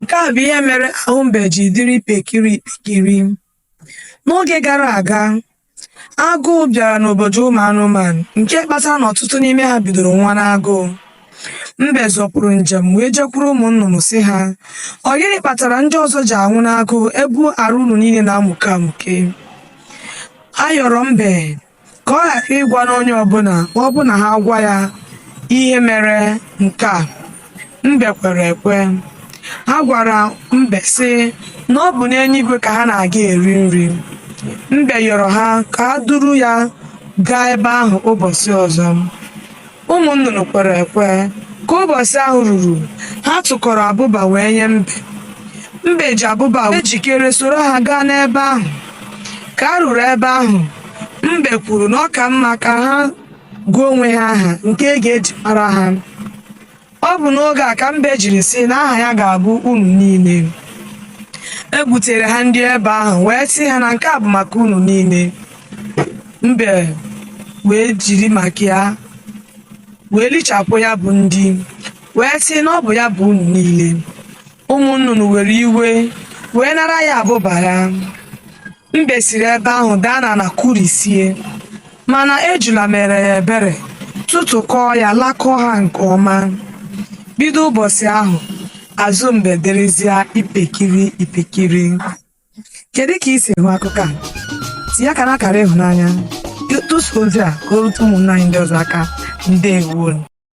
Nke a bụ ihe mere ahụ mbe ji dịrị ipekiri ipekiri. N'oge gara aga, agụụ bịara n'obodo ụmụ anụmanụ nke kpatara na ọtụtụ n'ime ha bidoro nwa n'agụụ. Mbe zọpụrụ njem wee jekwuru ụmụ nnụnụ sị ha, Ọ gịnị kpatara ndị ọzọ ji anwụ n'agụụ ebe arụ unu niile na-amụke amụke? Ha yọrọ mbe ka ọ ghara ịgwa n'onye ọbụla ma ọ bụ na ha gwa ya ihe mere nke a mbe kwere ekwe ha gwara mbe sị na ọ bụ n'eluigwe ka ha na-aga eri nri mbe yọrọ ha ka ha duru ya gaa ebe ahụ ụbọchị ọzọ ụmụ nnụnụ kwere ekwe ka ụbọchị ahụ ruru ha tụkọrọ abụba wee nye mbe mbe ji abụba wee jikere soro ha gaa n'ebe ahụ ka ha ruru ebe ahụ mbe kwuru na ọ ka mma ka ha gụọ onwe ha aha nke a ga-eji mara ha Ọ bụ n'oge a ka mbe jiri sị na aha ya ga-abụ unu niile. E butere ha nri ebe ahụ wee sị ha na nke a bụ maka unu niile. Mbe wee jiri maka ya wee lichapụ ya bụ nri wee sị na ọ bụ ya bụ unu niile. ụmụ nnụnụ were iwe wee nara ya abụba ha mbe siri ebe ahụ daa n'ana kụrisie mana ejula meere ya ebere tụtụkọọ ya lakọọ ha nke ọma bido ụbọchị ahụ azụ mbe dịrịzịa ipekiri ipekiri kedu ka i si hụ akụkọ a tinye aka n'akara ịhụnanya tụsaa ozi a ka o rute ụmụnna anyị ndị ọzọ aka ndewo